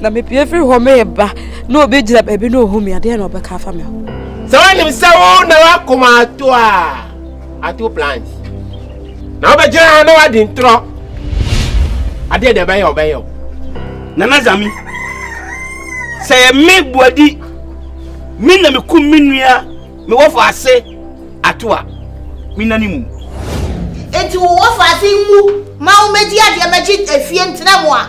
na mepie firi hɔ mereba na obi gyina baabi na ɔhu me adeɛ na ɔbɛka afa me ho sɛ wonim sɛ wo na woakoma ato a ato plant na wobɛgyina ha na woadi ntorɔ adeɛ deɛ ɛbɛyɛ ɔbɛyɛ o nana zami sɛ yɛ me boadi me na mekum me nua mewɔfo ase ato a mena ne mu enti wowɔfo ase mu ma womɛdi adeɛ mɛgye afie ntena mu a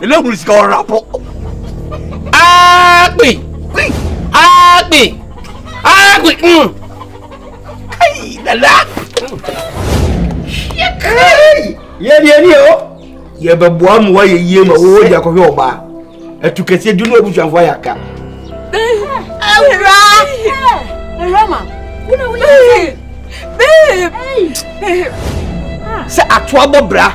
Ele hunu sika wɔ rapo. Agbe! Gbe! Agbe! Agbe! Mm. Kai, dada! Shit! Kai! Yɛ deɛ ni o. Yɛ bɛ bua mu wa yɛ yie ma wo di akɔhwɛ ɔbaa. Ɛtu kɛseɛ dunu abusuafo ayɛ aka. Awura! Awura ma! Wuna wo yɛ Babe! Sɛ atoa bɔ bra.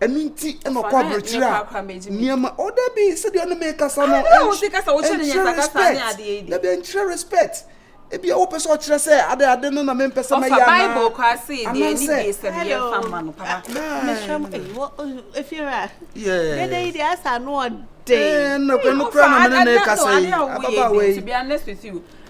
ɛno nti na ɔkɔ aburokyire a nneɛma o dabi sɛdeɛ ɔne me kasa no ɛnkyerɛ respect dabi ɛnkyerɛ respect ebi a wopɛ sɛ ɔkyerɛ sɛ ade ade no na mempɛ sɛ mɛyɛ anaa bible kɔ ase yɛ deɛ ɛni deɛ sɛ deɛ fa ma no papa mesrɛ m efiewura dede yi deɛ asa no ɔden ɛnna kura na mene ne kasa yi ababaawa yi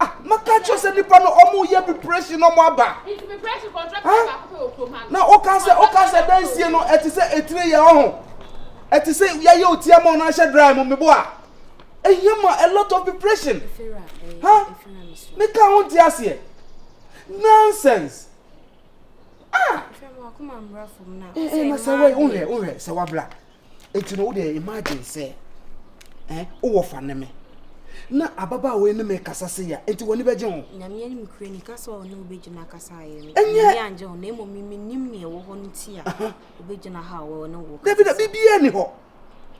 Ah, maka kyerɛ sɛ nipa no ɔmo yɛ preparation ɔmo aba. Nti preparation contract baako pɛ wɔ kurom ha. Na ɔka sɛ ɔka sɛ dansie no ɛte sɛ etire yɛ ɔho. Ɛte sɛ yɛayɛ oti ama ɔno ahyɛ dry mu mebo a. Ehia ma a lot of preparation. Ha? Meka ho nti aseɛ. Nonsense. Ah! Eh, eh, na sɛ wei, wohwɛ, wohwɛ, sɛ wabla. Enti no, wo deɛ imagine sɛ eh, wowɔ fa ne me na ababaawa yi ne me kasa se ya enti w'ani bɛgye ho nyame anim kura ni kasa ɔne wobɛgyina kasa ayɛ me ɛnyɛ angye ho na mmom menim ne ɛwɔ hɔ no nti a wobɛgyina ha wɔ ne wo dabi da biribiaa ni hɔ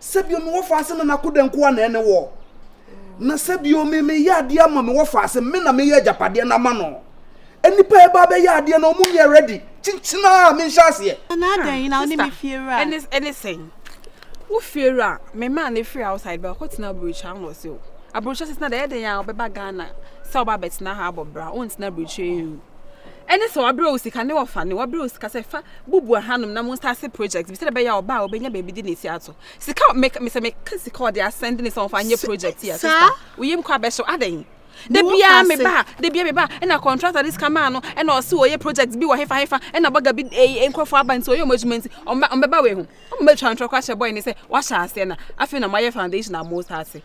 sɛ bio mewɔ faase na nakoda nko a na ɛne wɔ oh. na sɛ bio me meyɛ adeɛ ama mewɔ faase me na meyɛ agyapadeɛ no ama no Nnipa a ɛba bɛyɛ adeɛ no ɔmo nyɛ ready kyinkyin a menhyɛ aseɛ. Na adɛn yi na wo ne me fie wura. Ɛne ɛne sɛn? Wo fie wura me maa no firi outside ba kɔ tena aburokyire ano ɔsɛ o. Aburokyire sisi na deɛ ɛdɛn a ɔbɛba Ghana sɛ ɔba abɛtena ha abɔ bra o ntena aburokyire yi o. Ɛne sɛ wabrɛ wo sika ne wɔfa ne wabrɛ wo sika sɛ fa bubu ahanom na mo start project bi sɛ ɛbɛyɛ a ɔba a ɔbɛnya baabi de ne ti ato sika me sɛ meka sika ɔde asɛnde ne sɛ ɔmfa nyɛ project yi a sista woyam kɔ abɛhyew adɛn da biara me ba da biara me ba ɛna contractor de sika maa no ɛna ɔse wɔyɛ project bi wɔ hefa hefa ɛna bɔga bi nkurɔfoɔ aba nti ɔyɛ ɔmo adwuma nti ɔmbɛba wei ho ɔmo bɛtwa ntorɔ kora hyɛ bɔe ne sɛ wahyɛ aseɛ na afei na moayɛ foundation a mo sa ase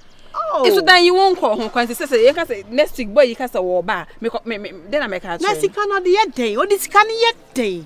nso dan yi wo nkɔ ho kwan sɛ sɛ yɛka sɛ next week bɔe yi ka sɛ wɔɔba a mekɔ me me dɛn na mɛka akyerɛ na sika no ɔde yɛ dɛn ɔde sika no yɛ dɛn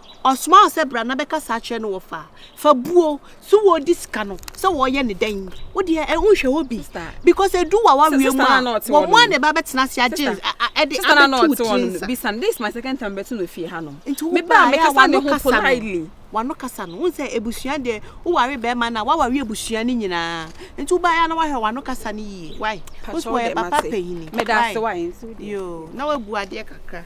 Ɔsomaa wo sɛ bra na bɛkasa akyerɛ no wɔ fa fa buo so wɔ di sika no sɛ wɔ yɛ ne dɛn wo deɛ ɛ wo nhwɛ hɔ bi because edu wa wa wie mu a wɔ mo a na ɛba bɛtena ase agye ɛde abɛtu wo tiri nsa nti wo ba yɛ a wano kasa no wano kasa no wo sɛ ebusua deɛ wo ware bɛɛma na wa ware ebusua no nyinaa nti wo ba yɛ a na wa hwɛ wano kasa no yie wai wo so wɔ yɛ papa panyini wai yoo na wa bu adeɛ kakra.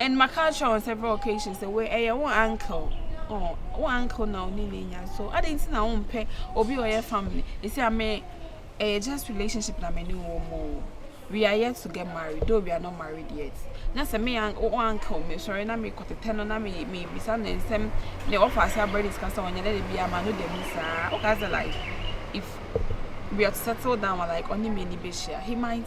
and ma ka kyerɛ wɔn several occasions sɛ wei ɛyɛ wɔn uncle wɔn oh, uncle na ɔne ne nya so adan ti na wɔn mpɛ obi ɔyɛ family esi ame ɛyɛ just relationship na me ne wɔn mo we are yet to get married though we are not married yet na sɛ me wɔn uncle me sɔre na me kɔtetɛ no na me me bisa ne nsɛm ne ɔfa ase abɛrɛ disika sɛ wɔn nyɛ ne de bi ama no dɛm saa ɔka sɛ like if we are to settle down like ɔne me ni bɛ hyia he might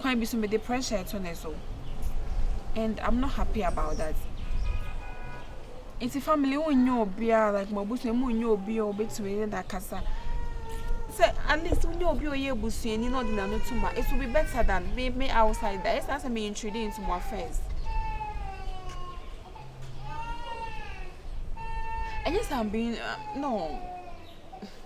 kwan bi so mede pressure reto ne so and I'm not happy about that. Nti family wo nyɛ obiara like mo abusua mu nyɛ obi a obetumi ne da kasa. Sɛ at least wo nyɛ obi a ɔyɛ abusuani na ɔde n'ano to ma it will be better than me me outside there. Ɛsɛ sɛ me intrude into mo affairs. Ɛnyɛ sɛ I'm being uh, no.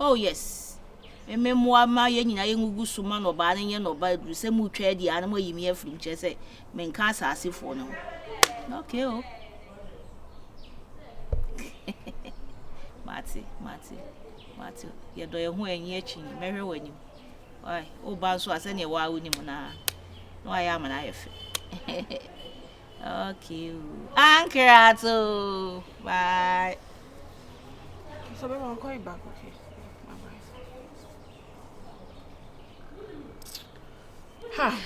Oh yes. Mme mmoa mma yɛn nyinaa yɛngugu so ma nnɔbaa no nyɛ nnɔbaa aduru sɛ motwa adi a na moayi me afiri nkyɛ sɛ menka asaasefoɔ no ho. Okay o. Oh. mate, mate, mate. Yɛdɔ yɛn ho anyi akyi mɛhwɛ w'anim. Woba nso a sɛdeɛ waa wonim no a na wayɛ amana ayɛ fɛ. Okay o. Ankrat o. Bye. So baby, I'll call you back, okay? Bye bye. Ha.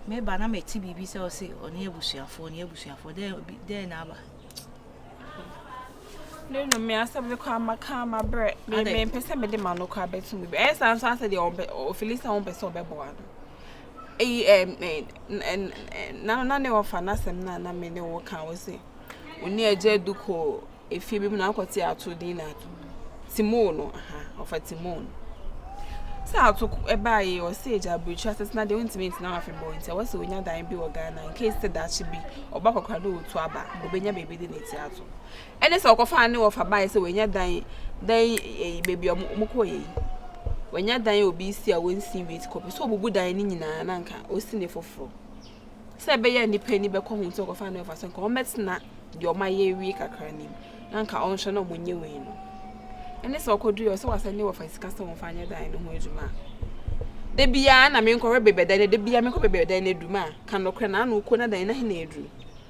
Me ba na me ti bibi sɛ ɔse ɔne abusuafoɔ ɔne abusuafoɔ dɛ dɛ na aba. Ne no me asɛm no kɔ amaka amabrɛ me me mpɛ sɛ mede ma no kɔ abɛto mu bi ɛyɛ saa nso asɛ deɛ ɔbɛ ɔfili sɛ wɔn pɛ sɛ ɔbɛboa no eyi ɛm ɛn na na ne wɔfa n'asɛm na na me ne wɔka wɔ se wɔn ni agya du kɔ efie bi mu na akɔte ato din na ato. Timon no aha ɔfa Timon sɛ atoko ɛbaa yɛ ɔsɛ agya abirikyiri asetena deɛ ɔntumi ntena hɔ afebɔɔ nti ɛwɔ sɛ ɔnya dan bi wɔ Ghana in case sɛ daakye bi ɔba kɔkora ne ɔtu aba na ɔbɛnya baabi de ne ti ato ɛne sɛ ɔkɔfa ne ɔfa baeɛ sɛ wɔanya dan dan ɛyi baabi a wɔn kɔɔ yɛ yi wɔanya dan a obi si a wɔnsi wie ti kɔpɛ sɛ ɔbubu dan ne nyinaa na nka ɔsi ne foforɔ sɛ ɛbɛyɛ a nnipa ani bɛkɔ ho sɛ wɔkɔfaa no ɛfa sɛ nka wɔmmɛtena deɛ wɔayɛ awie kakra no mu na nka wɔnhwɛ na wɔnyɛ wei no ɛne sɛ ɔkɔduru ɔsɛ wɔasɛ ne wɔfa sika sɛ wɔmfa nyɛ dan no ho adwuma a da biara na menkɔhwɛ baabi a dan no da biara menkɔ baabi a dan no aduru ma a ka nokorɛ na ano kɔ na dan no ahe na aduru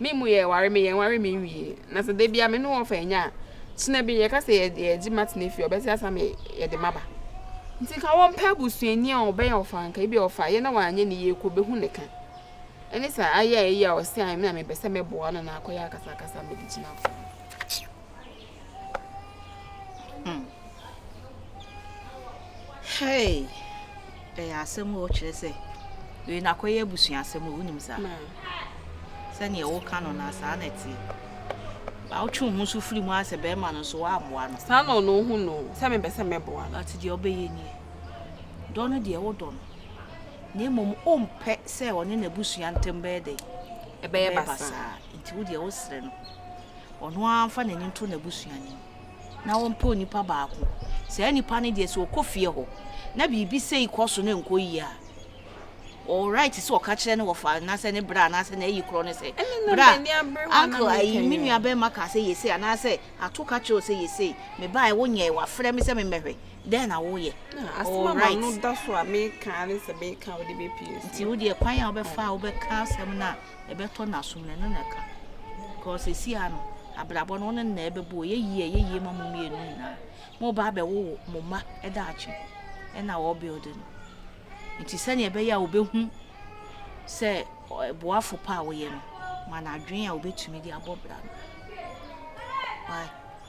Me mu yɛ ware me yɛ nware me nwie na sɛ da bia me ne wɔfa anya a kyena bi yɛka sɛ yɛgye matena fie ɔbɛte asa me yɛde maba nti nka wɔmpɛ abusuani a ɔbɛyɛ ɔfa nka ebi ɔfa yɛ na wanyɛ ne yie kɔ bɛhu ne ka ɛne saa ayɛ ayɛ a ɔse a me na mepɛ sɛ mɛboa no na akɔyɛ akasakasa mede gyina fam. Hmm. Hey! Ɛyɛ asɛm o kyerɛ sɛ wei na akɔyɛ abusua asɛm o wonim saa. Sɛnea woka no na saa na ɛteɛ. Ba wotwe wo ho so firi mu a sɛ bɛrima no nso woaboa no. Saa na ɔno hu no sɛ mepɛ sɛ mɛboa no. Ate deɛ ɔbɛyɛ nie. Dɔ no deɛ wodɔ no. Na mmom wompɛ sɛ ɔne n'abusua ntam bɛyɛ dɛn? Ɛbɛyɛ basaa. Nti wo deɛ wosrɛ no. ɔno ara mfa n'ani nto n'abusua no mu na ɔmpɛ onipa baako. Saa nipa no deɛ, sɛ ɔkɔ fie hɔ na biribi sei kɔ so na ɛnkɔ yie a, ɔwɔ right sɛ ɔka kyerɛ ne wɔfa anaasɛ ne bra anaasɛ n'ayi korɔ no sɛ, bra, uncle, ayi, me nua bɛrima kaa sɛ yɛsei anaasɛ ato ka kyerɛ wo sɛ yɛsei, mebaeɛ wonyɛɛ, wafrɛ me sɛ memmɛhwɛ, dɛn na woyɛ? Ɔwɔ right. Nti wo deɛ, kwan a wobɛfa a wobɛka asɛm no a, ɛbɛtɔ n'asom no ɛno na ɛka cause sɛsi ara no abrabɔ no wo ne no na ɛbɛbɔ o ɛyɛ yie a ɛyɛ yie ma mo mmienu nyinaa moreba abɛwowo mo mma daakye ɛna wɔ build no nti sɛnea ɛbɛyɛ a wobɛhu sɛ boafo pa a woyɛ no ma no adwene a wobɛtumi de abɔ bra no why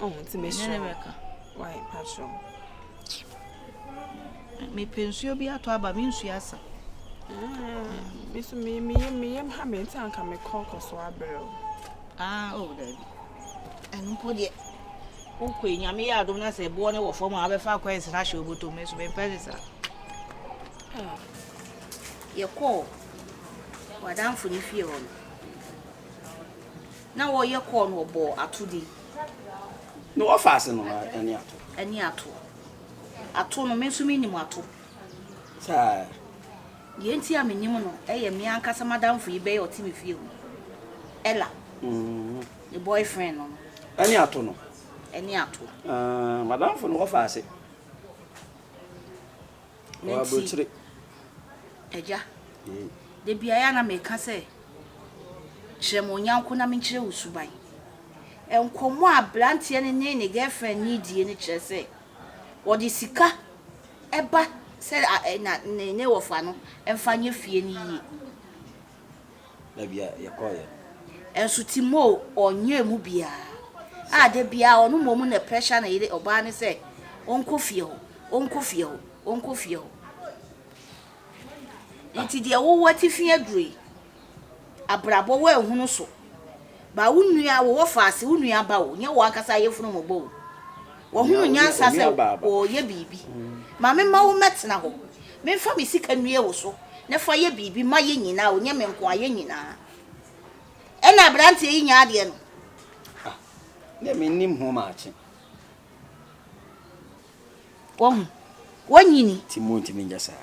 ɔho nti mesrɛ wae patrɔ. mepɛ nsuo bi atɔ aba me nsuo asa meso meyam ha me nti anka mekɔ kɔ so abrɛ o ah, oh, daabi ɛno mpo deɛ wokɔ nyame yɛ adom no sɛ ɛboɔ no wɔ fam a wobɛfa akɔ ɛnsena hyɛ wobɔtɔ me so mempɛ ne saa ah. yɛkɔɔ wadamfo no fie hɔ no Na wɔyɛ kɔɔ no wɔbɔɔ atodi. Na wɔfa ase nom ɛne ato. Ɛne ato. Ato no, me nso mennim ato. Saa. Deɛ enti a mennim no yɛ me ankasa m'adamfo yi bɛyɛ ɔte me fie hɔ. Ella. Ne boyfriend no no. Ɛne ato no. Ɛne ato. M'adamfo no wɔfa ase. Ɔwɔ aburokyire. Agya, da biara yɛ a na meka sɛ, kyerɛ me wo nyɔnko na menkyerɛ wo suban. Nkɔmmɔ a aberanteɛ no ne ne girlfriend no redie no kyerɛ sɛ, wɔde sika ba sɛ ne wɔfa no mfa nyɛ fie no yie. baabi a yɛkɔeɛ no. Nso Timor ɔnyɛɛ mu biara, a da biara ɔno mmom na pressure ne yere, ɔbaa no sɛ ɔnkɔ fie hɔ, ɔnkɔ fie hɔ, ɔnkɔ fie hɔ. Nti deɛ wowɔ atifi aduro yi, abrabɔ woanhunu so. Ba wo nua wo wɔfaase wo nua ba o nyɛ wo ankasa ayefunu mo bɔ o wɔ hunu nyansa sɛ wɔ yɛ biribi ma me ma wo mɛ tena hɔ me nfa me sika nue wo so ne fa yɛ biribi ma yɛ nyinaa o nyɛ me nkoa yɛ nyinaa ɛna abranteɛ yi nya adeɛ no ah ne me nim ho maakye wɔn wɔn nyini ti mu ntumi nyɛ saa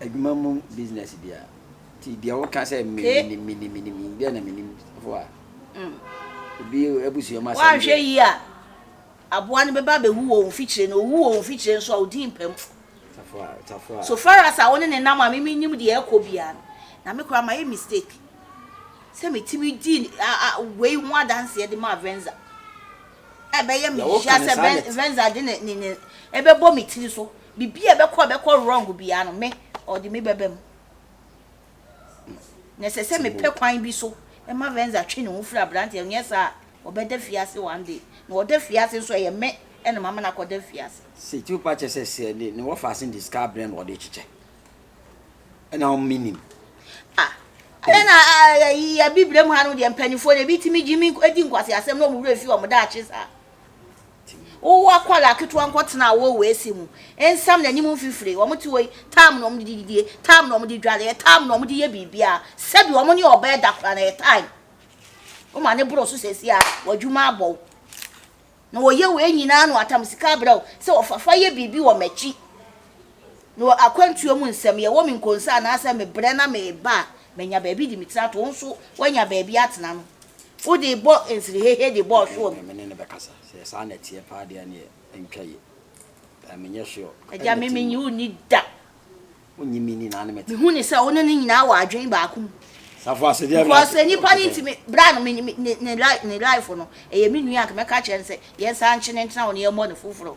Adwuma mu business bia ti deɛ woka sɛ menim menim menim deɛ na menim fo a mm. obi abusua mu asɛm woanhwɛ yi a aboa no bɛba bɛwu wɔ mfikyire no owu wɔ mfikyire nso a odi mpam so far as a wo ne ne nam a mimi nim deɛ ɛkɔ biara no na me koraa mayɛ mistake sɛ metumi di wei ho adanseɛ de maa venza ɛbɛyɛ mehyia sɛ venza de ne ɛbɛbɔ me tiri so Biribi a ɛbɛkɔ a ɛbɛkɔ wrong biara no, me, ɔde me bɛba mu. Na ɛsɛ sɛ mepɛ kwan bi so ma Venza twe ne ho firi aberanteɛ no, nyɛ saa a, ɔbɛda fie ase one day. Na ɔda fie ase nso a, ɛyɛ me na mama no akɔda fie ase. Sɛ tumi pa kyerɛ sɛ sɛ ne wɔfa se de sika abrɛ no ɔde kyekyɛ ɛna ɔn menim. Ah, ɛyɛ na ayi abibrem ha no deɛ mpanimfoɔ no ebi tumi gye mi di nkwaseasɛm na wɔn werɛ fi wɔn daakye saa. Wowɔ akwadaa ketewa nko tena a wowɔ AC mu, nsam n'anim mfifire, wɔte hɔ yi, time na wɔde didie, time na wɔde dware, ɛyɛ time na wɔde yɛ biribiara, sɛbi wɔn ne ɔbaa ɛda koraa na ɛyɛ time. Woma ne boro so sɛsi a, w'adwuma abɔ wo. Na wɔyɛ wei nyinaa na wɔatam sika abrɛ wo sɛ wɔfafa yɛ biribi wɔ m'akyi. Mewɔ akwantuo mu nsɛm, yɛwɔ me nkonsa anaasɛ mebrɛ na mereba a, manya baabi de me tiri ato. Wo nso woanya baabi atena no, wode rebɔ nsirihehe de bɔ ɔhweɔ mu. Ɛnneɛ me ne no bɛkasa. Sɛ yɛ saa na ɛteɛ paa deɛ ɛnneɛ ɛntwa yie. Ɛɛ menyɛ sure. Agya, me mennye wo nni da. Wonnye me nni na ne mete. Mehu no sɛ wo ne no nyinaa wɔ adwene baako mu. Safo ase deɛ ɛbɛyɛ. Because nipa no ntumi, bra no, me, me, ne, ne, ne life no, ɛyɛ me nua, anka mɛka akyerɛ no sɛ, yɛnsan nkye no ntena hɔ na yɛmmɔ no foforɔ.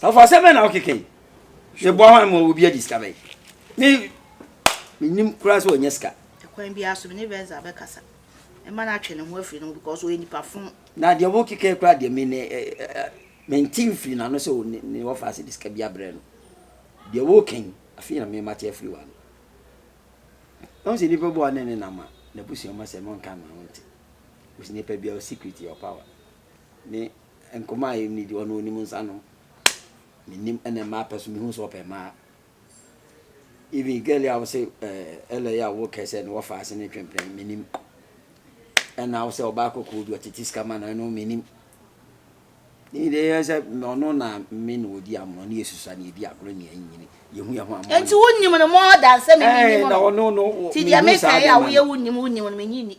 Sɔfo asɛm bɛn na wokeka yi hwɛ boa hwan ma obi adi sika bɛn me menim koraa sɛ ɔnya sika ɛkwan biara so me ne Venza bɛkasa ɛma no atwe ne ho afiri ne ho because ɔyɛ nipa fo na deɛ wokeka koraa deɛ me ne mente mfiri n'ano sɛ ne wɔfa ase de sika bi abrɛ no deɛ woka yi afei na memate afiri wano ɛho sɛ nipa bi a ɔne ne nam a n'abusua ma sɛ monka ma wonte ɔsi nipa biara secret your power Me nkɔmmɔ a yɛnni deɛ ɔno ɔnim nsa no menim ɛna mmaa pɛ so mehu sɛ ɔpɛ mmaa even girl a wosɛ ɛlɛ yɛ a wokɛ sɛ no wɔfa ase ne twempene menim ɛna wosɛ ɔbaa kɔkɔɔ bi ɔtete sika ma no ɛno menim ɔno na me na ɔdi amono ne yɛsusa ne yɛdi agorɔ ne yɛnyini yɛhu yɛ ho amɔ nti wonim no mɔɔdan sɛ memenim no nti deɛ mekɛe a woyɛ wonim wonim no menyi ni